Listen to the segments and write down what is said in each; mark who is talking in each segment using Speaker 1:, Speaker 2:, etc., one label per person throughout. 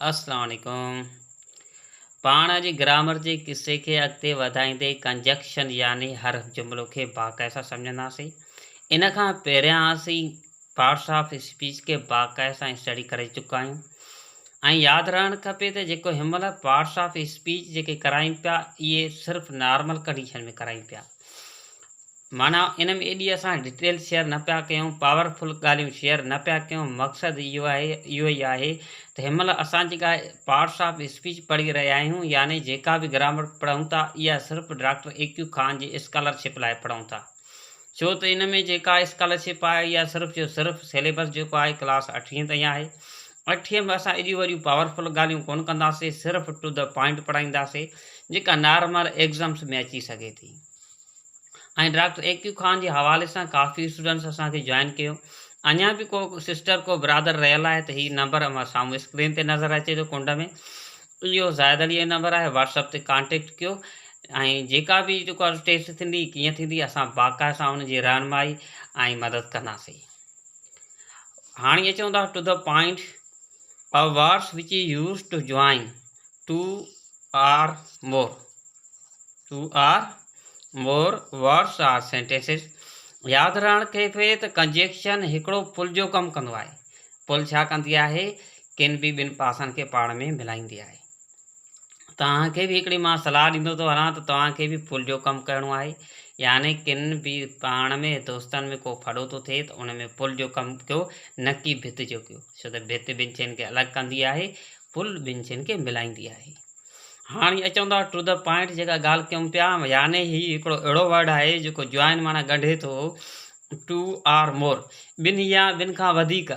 Speaker 1: السلام عليڪم پاڻ جي گرامر جي قصي کي اڳتي وڌائيندي ڪنجنڪشن يعني حرف جملو کي باقاعده سمجهنداسين ان کان پهريان اسين پارٽس آف اسپيچ کي باقاعده سان اسٽڊي ڪري چڪا آهيون ۽ ياد رهڻ کپي ته جيڪو هن مهل پارٽس آف اسپيچ جيڪي ڪرايون پيا اهي صرف نارمل ڪنڊيشن ۾ ڪرايون پيا معنيٰ ان ۾ ايڏي اسان ڊٽيل شيئر نه پيا ڪيون پاور فل ڳالهيون شيئر نه پيا ڪيون مقصد اهو آهي اهو ئي آهي ته هن مهل اسان جيڪا پارٽس آف اسپيچ پڙهي رهيا آهيون يعني جيڪا به گرامر پڙهون ٿا اها صرف ڊاڪٽر اي ڪيو خان جي اسڪالر شپ لاء پڙهون ٿا ڇو ته ان ۾ جيڪا اسڪالر شپ آهي اها صرف جو صرف سيليبس جيڪو آهي ڪلاس اٺين تائين آهي اٺيء ۾ اسان ايڏيون وڏيون پاور فل ڳالهيون ڪونه ڪنداسين، صرف ٽو دي پوائنٽ پڙهائينداسين، جيڪا نارمل ايگزمس ۾ اچي سگهي ٿي. ۽ ڊاڪٽر اي ڪيو خان جي حوالي سان ڪافي اسٽوڊنٽس اسان کي جوائن ڪيو. اڃا به ڪو سسٽر ڪو برادر رهيل آهي ته هي نمبر اوهان سامهون اسڪرين تي نظر اچي ٿو ڪنڊ ۾ اهو زاهد عليء جو نمبر آهي واٽس اپ تي ڪانٽيڪٽ ڪيو ۽ جيڪا به جيڪا ٽيسٽ ٿيندي ڪيئن ٿيندي اسان باقاعده سان ان جي رهنمائي ۽ مدد ڪنداسين. هاڻي اچون ٿا to the point of words which is use to join two or more two or more words or sentences ياد رهڻ کي پئي ته ڪنجيڪشن هڪڙو پل جو ڪم ڪندو آهي پل ڇا ڪندي آهي ڪن به ٻن پاسن کي پاڻ ۾ ملائيندي آهي توهان کي به هڪڙي مان صلاح ڏيندو ٿو هلان ته توهان کي به پل جو ڪم ڪرڻو آهي يعني ڪن به پاڻ ۾ دوستن ۾ ڪو ڦڙو ٿو ٿئي ته ان ۾ پل جو ڪم ڪيو نه ڪي ڀت جو ڪيو ڇو ته ڀت ٻن شين کي الڳ ڪندي آهي پل ٻن شين کي ملائيندي آهي هاڻي اچون ٿا ٽو ڌا پوائنٽ جيڪا ڳالهه ڪيون پيا يعني هي هڪڙو اهڙو ورڊ آهي جيڪو جوائن معنيٰ ڳنڍي ٿو ٽو آر مور ٻن يا ٻن کان وڌيڪ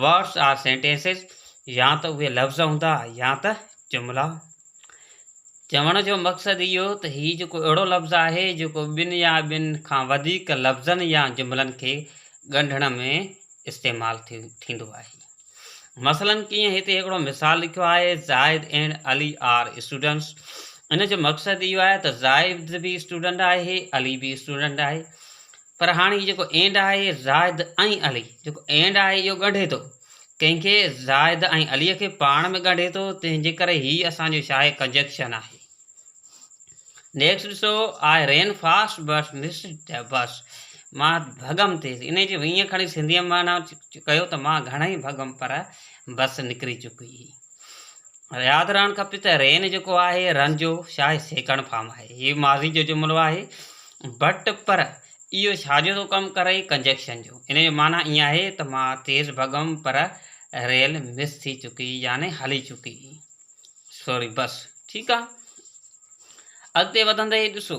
Speaker 1: Words are sentences يا ته اهي لفظ هوندا يا ته جملا. چوڻ جو مقصد اهو ته هي جيڪو اهڙو لفظ آهي جيڪو ٻن يا ٻن کان وڌيڪ لفظن يا جملن کي ڳنڍڻ ۾ استعمال ٿيندو آهي. مثلاً ڪيئن هتي هڪڙو مثال لکيو آهي Zahid and Ali are students ان جو مقصد اهو آهي ته زاهد به اسٽوڊنٽ آهي علي به اسٽوڊنٽ آهي پر هاڻ هي جيڪو اينڊ آهي زاهد ۽ علي جيڪو اينڊ آهي اهو ڳنڍي ٿو ڪنهن کي زاهد ۽ علي کي پاڻ ۾ ڳنڍي ٿو تنهن جي ڪري هي اسان جو شاهي ڪنجيڪشن آهي نيڪسٽ ڏسو آء رين فاسٽ بس مس ته بس مان ڀڳم تيز ان جو ائين کڻي سنڌيء معنيٰ ڪيو ته مان گهڻائي ڀڳم پر بس نڪري چڪي ياد رهڻ کپي ته رين جيڪو آهي رن جو شاهي سيڪڻ فارم آهي هي ماضي جو جملو آهي بٽ پر اهو ڇا جو ٿو ڪم ڪري ڪنجيڪشن جو ان جو معنی ائين آهي ته مان تيز ڀڳم پر ريل مس ٿي چڪي يعني هلي چڪي سوري بس ٺيڪ آهي اڳتي وڌندي ڏسو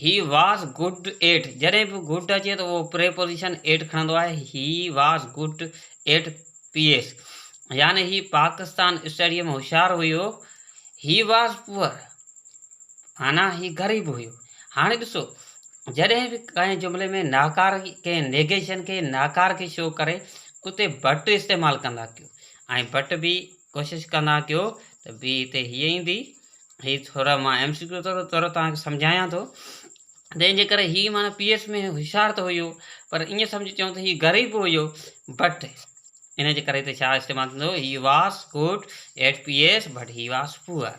Speaker 1: He was good at جڏهن به good اچي ته اهو پريپوزيشن at کڻندو آهي He was good at PS يعني هي پاڪستان اسٽڊيء ۾ هوشيار هيو He was poor معنيٰ هي غريب هيو هاڻي ڏسو جڏهن به ڪنهن جملي ۾ ناڪار ڪنهن نيگيشن کي ناڪار کي شو ڪري اتي بٽ استعمال ڪندا ڪيو ۽ بٽ به ڪوشش ڪندا ڪيو ته بي تي هيء ايندي. هي ٿورا مان ايم سي ڪيو طور طور توهان کي سمجهايان ٿو. تنهن جي ڪري هي معنيٰ پي ايس ۾ هوشيار ته هيو پر ائين سمجهي چئون ته هي غريب به هيو بٽ ان جي ڪري ته ڇا استعمال ٿيندو he was good at P S but he was poor.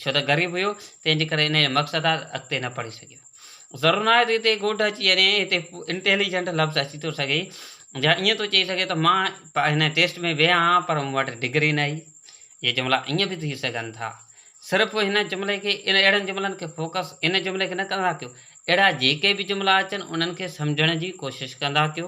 Speaker 1: ڇو ته غريب هيو، تنهن جي ڪري انهيء مقصد ڏانهن اڳتي نه پڙهي سگهيو. ضرور ناهي ته هتي ڳوٺ اچي وڃي، هتي Intelligent لفظ اچي ٿو سگهي، يا ائين ٿو چئي سگهي ته مان هن ٽيسٽ ۾ ويهان ها، پر مون وٽ ڊگري نه هئي. اهي جملا ائين به ٿي سگهن ٿا. صرف هن جملي کي، اهڙن جملن کي فوڪس ان جملي کي نه ڪندا ڪيو. اهڙا جيڪي به جملا اچن، انهن کي سمجهڻ جي ڪوشش ڪندا ڪيو.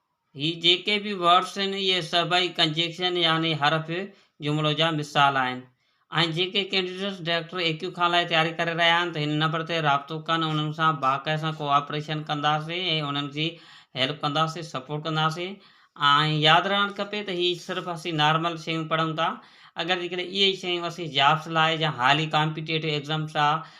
Speaker 1: هي جيڪي به ورڊز آهن اهي سڀئي ڪنجنڪشن يعني حرف جملو جا مثال آهن ۽ جيڪي candidates director A Q Khan لاء تياري ڪري رهيا آهن ته هن نمبر تي رابطو ڪن انهن سان باقاعي سان ڪو آپريشن ڪنداسين ۽ انهن جي هيلپ ڪنداسين سپورٽ ڪنداسين ۽ ياد رهڻ کپي ته هي صرف اسين نارمل شيون پڙهون ٿا اگر جيڪڏهن اهي شيون اسين جابس لاء يا هائلي ڪامپيٽيٽو ايگزامس آ